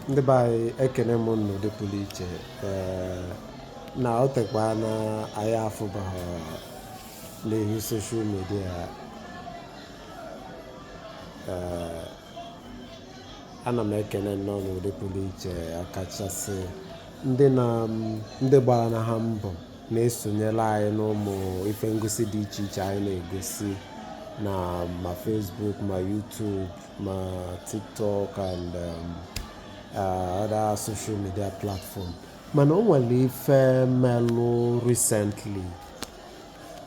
ndị be anyị ekene m unu n'ụdị pụrụ iche na o tekwaana anyị afụbaghị n'ihu social media ana m ekene nnọọ n'ụdị pụrụ iche ọkachasị ndị na ndị gbara na ha mbọ na-esonyere anyị n'ụmụ ife ngosi dị iche iche anyị na-egosi na ma Facebook ma YouTube ma TikTok and um, uh, other social media platform mana o nwere ife melụ recently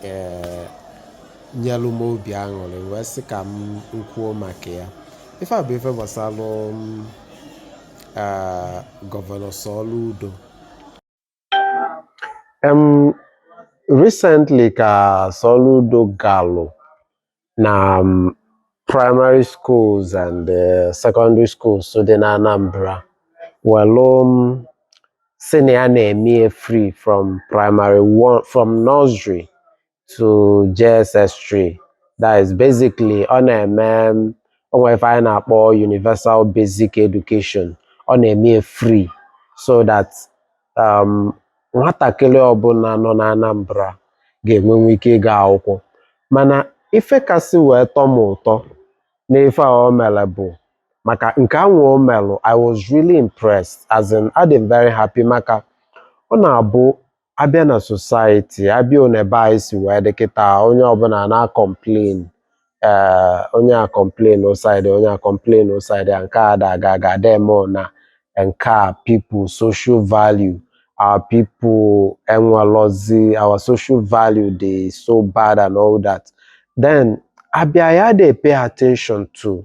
eh, nyelụ m obi aṅụrị wee sị ka m kwuo maka ya ife a bụ ife gbasalụ um, uh, gọvanọ Soludo Em, recently ka Soludo galụ na um, primary schools and uh, secondary schools so dị na Anambra welụ um, sị na ya na-eme ya free from primary one from nursery to JSS3 that is basically ọ na-eme o nwee ife anyị na-akpọ universal basic education ọ na-eme free so that um, nwatakịrị ọbụla nọ na Anambra ga-enwenwu ike ịga akwụkwọ mana ife kasị wee tọ m ụtọ n'ife a o mere bụ maka nke anwa o merụ I was really impressed as in adị m very happy maka ọ na-abụ a bịa na society a bịa one be anyị si wee dị kịta onye ọbụla na-acomplain ee onye a complainụọ side a onye a complainụọ side a nke a ada aga aga ada eme na nke a people social value our people enwelọzi our social value dị so bad and all that then abịa ya dey pay attention to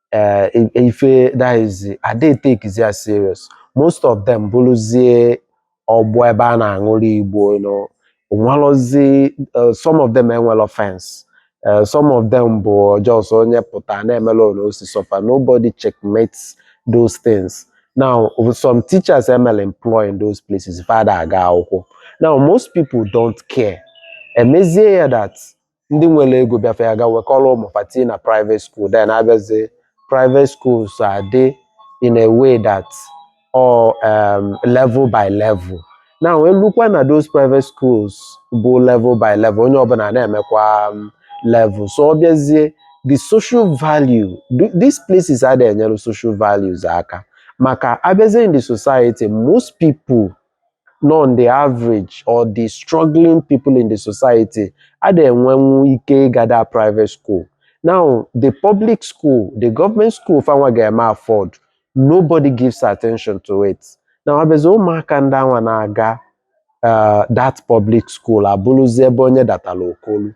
eh, i- ife that is ada a-takezi ya serious most of them bụrụzie ọgbọ ebe a na-aṅụrị igbo you know o nwerọzi eh, some of them enwerọ fence Eh, some of them bụ just onye pụta na-emelụ one o si sọ fa nobody checkmates those things now some teachers e melụ employ in those places fa ada aga akwụkwọ now most people don't care emezie ya that ndị nwere ego bịa fa ya-aga wekọrọ ụmụ fa tii na private school then a bịazie private schools adị in a way that or um, level by level now e lukwa na those private schools bụ level by level onye ọbụla na-emekwa um, level so ọ bịazie the social value th- these places ada enyere social values aka maka a bịazie in the society most people nọ on the average or the struggling people in the society ada enwenwu ike ịga that private school now the public school the government school fanwa ga-eme afford nobody gives attention to it now abịazi ụmụaka ndị anwa na-aga uh, that public school abụrụzi ebe onye datara okolu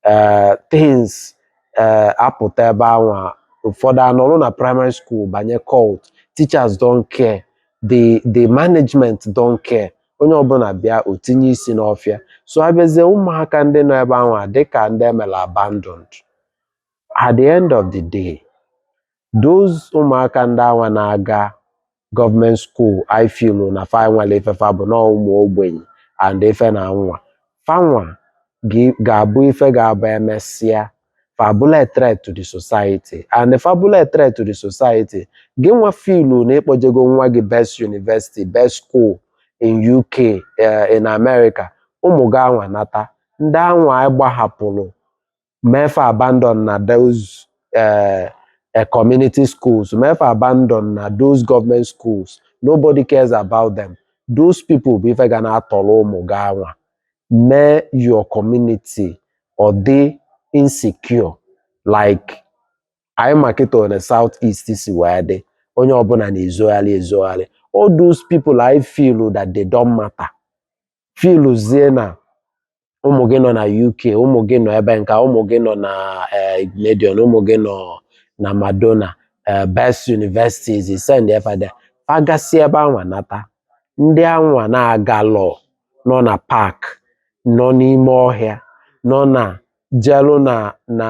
ee eh, things ee eh, apụta ebe anwa ụfọdụ anọrụ na primary school banye cult teachers don't care the the management don't care onye ọbụla bịa o tinye isi n'ọfịa so abịazie ụmụaka ndị nọ ebe anwa dịka ndị emela abandoned at the end of the day those ụmụaka ndị anwa na-aga government school anyị filu na fa enwerọ ife fa bụ na ụmụ ogbenye and ife na nwa fanwa ga- ga-abụ ife ga-abụ emesịa fa abụlụ a threat to the society and fa abụlụ a threat to the society gị nwa filu na ịkpọjego nwa gị best university best school in uk eh, in america ụmụ gị anwa nata ndị anwa anyị gbahapụrụ mee fa abandon na those uh, uh, community schools mee fa abandon na those government schools nobody cares about them those people bụ ife ga na-atọrọ ụmụ gị anwa mee your community ọ dị insecure like anyị ma kịta one south east si wee dị onye ọbụla na-ezogharị ezogharị all those people anyị filu that they don't matter filuzie na ụmụ gị nọ na uk ụmụ gị nọ ebe nka ụmụ gị nọ na eh, igbinedion ụmụ gị nọ na madonna eh, best universities ị sendie fa there fa gasịa ebe anwa nata ndị anwa na-agalọ nọ na park nọ n'ime ọhịa nọ na jelu na na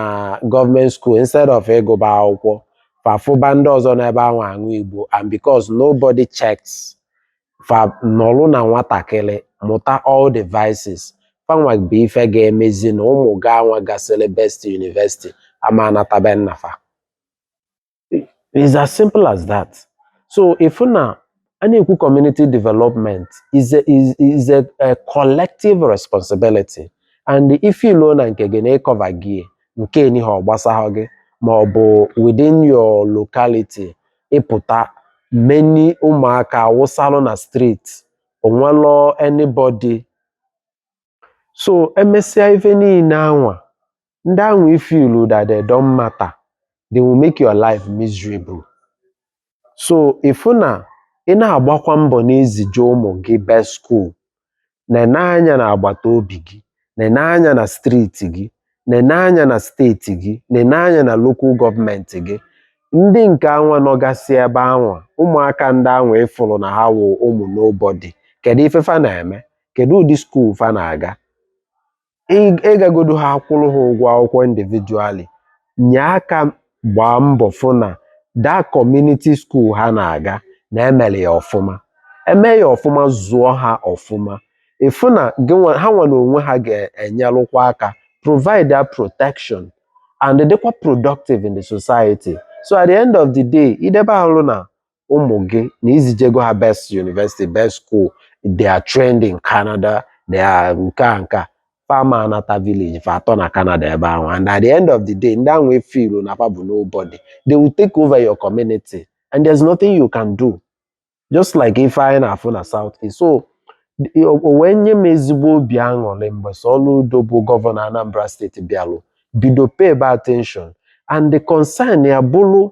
government school instead of ịgụba akwụkwọ fa afụba ndị ọzọ nọ ebe anwa aṅụ igbo and because nobody checks fa nọlụ na nwatakịrị mụta all the vices fanwa bụ ife ga-emezi na ụmụ gị anwa gasịrị best university ama anata be nna fa is as simple as that so ịfụ na a na-ekwu community development is a, is, is a, a collective responsibility and ifilu na nke gị na ịkọva gị nke nihe ọ gbasahụ gị ma ọ bụ within your locality ịpụta many ụmụaka awụsalụ na street onwelọ anybody so emesịa ife niile anwa ndị anwa ifilu that they don't matter they will make your life miserable so ịfụ na ị na-agbakwa mbọ na-ezije ụmụ gị best school nene anya na agbata obi gị nene anya na striiti gị nene anya na steeti gị nene anya na lokal gọọmenti gị ndị nke anwa nọgasị ebe anwa ụmụaka ndị anwa ịfụrụ na ha wụ ụmụ nobody kedu ife fa na-eme kedu ụdị skuul fa na-aga ịgagodu ha akwụrụ ha ụgwọ akwụkwọ individually nye aka gbaa mbọ fụ na that community skuul ha na-aga na emere ya ọfụma eme ya ọfụma zụọ ha ọfụma ịfụ na ha nwa na onwe ha ga-enyelụkwa aka provide protection and dịkwa productive in the society so at the end of the day idebe alụ na ụmụ gị na izijego ha best university best school they are trained in Canada they are nke a nke a fa ama anata village fa atọ na Canada ebe ahụ and at the end of the day ndị ahụ i feelu na fa bụ nobody they will take over your community and there's nothing you can do just like ife anyị na-afụ na South East so the- o o wee nye m ezigbo obi aṅụrị mgbe Soludo bụ gọvanọ Anambra steeti bịalụ bido paybe attention and the concern ya bụrụ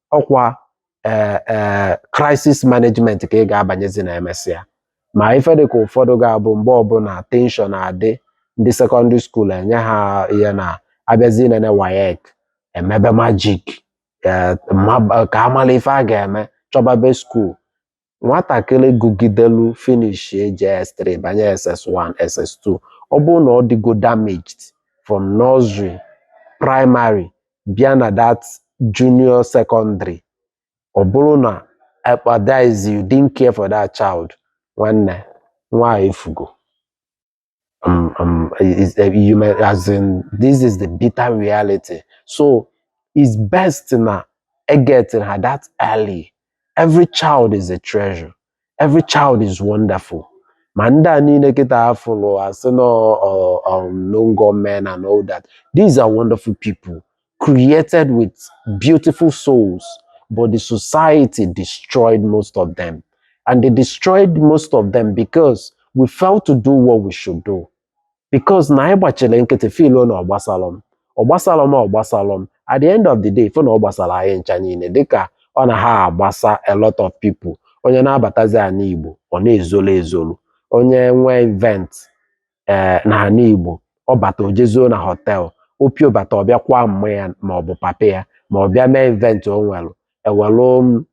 ọkwa ee eh, eh, crisis management ka ị ga-abanyezi na emesịa ma ife dịka ụfọdụ ga-abụ mgbe ọbụla tension adị ndị sekọndịrị skuul enye ha ihe na abịazi inene WAEC emebe magic eh, ka amala ife a ga-eme chọbabe skuul nwatakịrị gụgidelu finishie JS3 banye SS1 SS2 ọ bụrụ na ọ dịgo damaged from nursery primary bịa na that junior secondary ọ bụrụ na ekpadize you didn't care for that child nwanne nwa efugo um, um, is, uh, you may, as in, this is the bitter reality. So it's best na getting her that early. Every child is a treasure. Every child is wonderful. Ma ndị a niile kịta afụlụ asị na ọ- ọ- um, no go men and all that. These are wonderful people. created with beautiful souls, but the society destroyed most of them. And they destroyed most of them because we failed to do what we should do. Because na anyị gbachili nkịtị feeluo na ọ gbasalọ m ọ gbasalọ m ọ gbasalọ m at the end of the day fụ na ọ gbasara anyị ncha niile dịka ọ na ha agbasa a lot of people onye na-abatazi ana Igbo ọ na-ezolo ezolo onye nwee event ee na ana Igbo ọ bata o je zoo na họtel o pio bata ọ bịa kwaa mma ya ma ọ bụ papa ya ma ọ bịa mee event o nwere ewelụ m-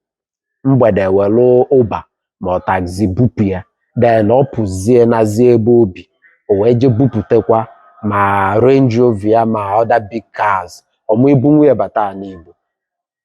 mgbede ewelụ Uber ma ọ taxi bupụ ya then ọ pụzie nazie ebe o bi o wee je buputekwa ma Range Rover ya ma other big cars ọ ma ibunwu ya bata ana Igbo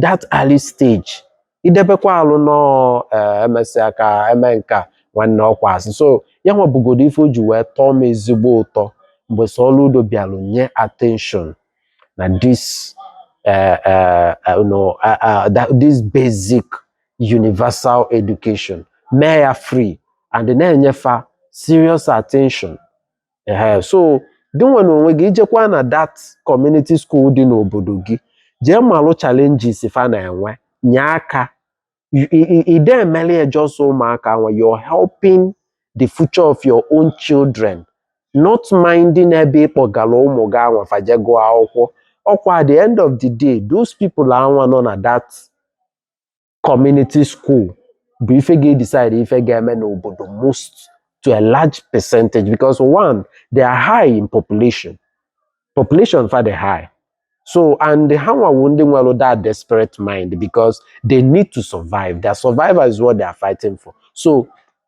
that early stage idebekwa alụ no eh, emesịa ka eme nka nwanne ọkwa asị so ya nwa bụgodo ife o ji wee tọọ m ezigbo ụtọ mgbe Soludo bịalụ nye attention na this eh, eh, eh, no, ah, ah, that- this basic universal education mee ya free and na-enye fa serious attention ehe so gị nwa n'onwe gị i jekwaa na that community school dị n'obodo gị jee malụ challenges fa na-enwe nye aka ị da emeli just ụmụaka anwa you're helping the future of your own children not minding ebe ị kpọgara ụmụ gị anwa fa je gụọ akwụkwọ ọkwa at the end of the day those people anwa nọ na that community school bụ ife ga-edecide ife ga-eme n'obodo most to a large percentage because one they are high in population population fa dị high so and ha nwa wụ ndị nwelụ that desperate mind because they need to survive their survival is what they are fighting for so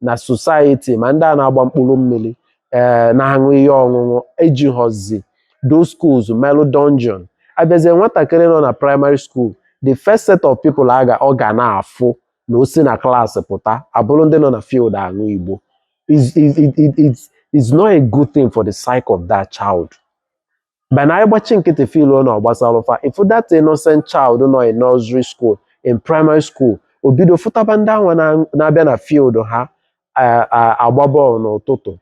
na society ma ndị a na-agba mkpụrụ mmiri ee eh, na-aṅụ ihe ọṅụṅụ eji họzi those schools melụ dungeon a bịazie nwatakịrị nọ na primary school the first set of people aga ọ ga na-afụ na o si na class pụta abụrụ ndị nọ na field aṅụ igbo is is is is is not a good thing for the psyche of that child But na ị gbachi nkịtị feel na ọ gbasara fa if that innocent child nọ in nursery school in primary school o bido fụtaba ndị anwa na- na-abịa na field ha a- a- agba bọọlụ n'ụtụtụ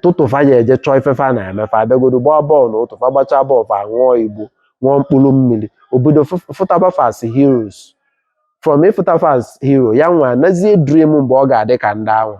tupu fa ya eje chọọ ife fa na-eme fa abịagodo gbaa bọọlụ n'ụtụtụ fa gbachaa bọọlụ fa ṅụọ igbo ṅụọ mkpụrụ mmiri o bido fụ- fụtaba fa as heroes from ịfụta fa as hero ya nwa nazi edream mgbe ọ ga-adị ka ndị anwa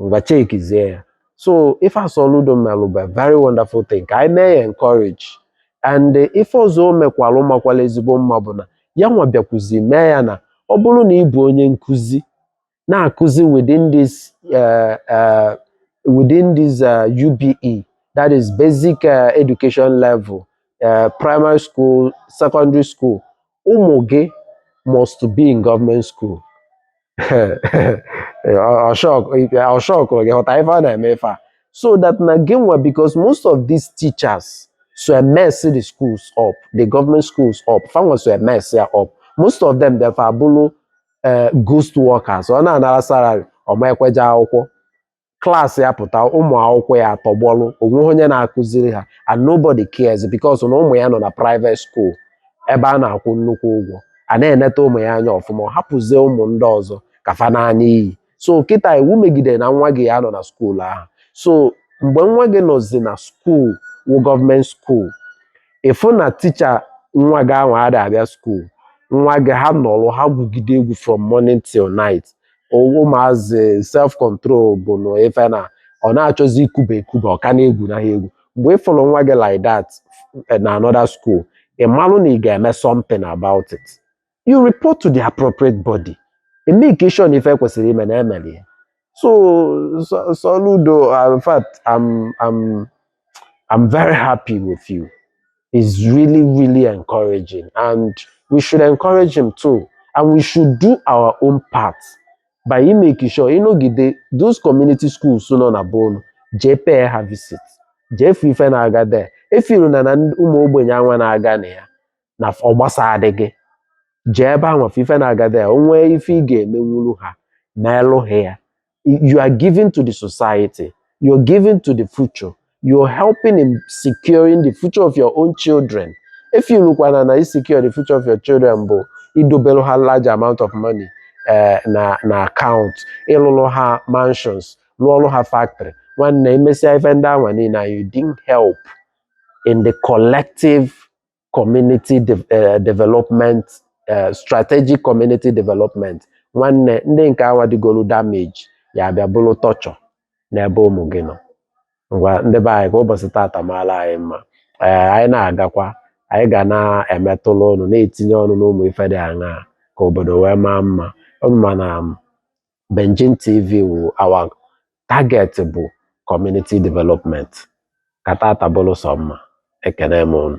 ngwa chekizie ya so ife a Soludo melụ bụ a very wonderful thing ka anyị mee ya encourage and ife ọzọ o mekwalụ makwalụ ezigbo mma bụ na ya nwa bịakwuzi mee ya na ọ bụrụ na ị bụ onye nkụzi na-akụzi within this uh, uh, within this uh, UBE that is basic uh, education level uh, primary school secondary school ụmụ gị must be in government school ọshọkụrụ gị hụta ife a na-eme ife a so that na gị nwa because most of these teachers so mess the schools up the government schools up fanwa so mess ya up most of them bịa fa abụrụ eh, ghost workers ọ na-anara salary ọ ma ekwe je akwụkwọ class ya pụta ụmụ akwụkwọ ya atọgbọlụ o nweghị onye na-akụziri ha and nobody cares because na ụmụ ya nọ na private school ebe a na-akwụ nnukwu ụgwọ a na-eneta ụmụ ya anya ọfụma ọ hapụzie ụmụ ndị ọzọ ka fa na-ana n'iyi so kịta iwu megide na nwa gị ya-anọ na school ahụ so mgbe nwa gị nọzi na school wụ government school ị fụ na teacher nwa gị anwa ada abịa school nwa gị ha nọrọ ha gwugide egwu from morning till night ụmụazị self control bụ na ife na ọ na-achọzi ikuba ekuba ọ ka na-egwu na ha egwu mgbe ị fụrụ nwa gị like that eh, na another school ị malụ na ị ga-eme something about it you report to the appropriate body e make sure na ife e kwesịrị ime na e meli ya so so- Soludo uh, in fact I'm, I'm I'm very happy with you. It's really, really encouraging. And we should encourage him too. And we should do our own part by making sure ịnọgide those community schools nọ na be unu jee pay ha visit jee fụ ife na-aga there efeeluna na ndị ụmụ ogbenye anwa na-aga na ya na ọ gbasadịghị jee ebe anwa fụ ife na-aga there o nwee ife ị ga-emenwuru ha meelụ ha ya you are giving to the society you're giving to the future you're helping in securing the future of your own children efeelukwana na isecure the future of your children bụ idobelu ha large amount of money eh, na na account ịlụlụ ha mansions lụọlụ ha factory nwanne i mesịa ife ndị anwa niile you didn't help in the collective community de eh, development eh, strategic community development nwanne ndị nke anwa dịgolu damage ya-abịa bụrụ torture n'ebe ụmụ gị nọ ngwa ndị be anyị ka ụbọchị tata maalụ anyị mma ee anyị na-agakwa anyị ga na-emetụla ọnụ na-etinye ọnụ n'ụmụ ife dị aṅaa ka obodo wee maa mma unu ma na m Benjin TV wụ our target bụ community development ka tata bụrụ sọ mma ekene m unu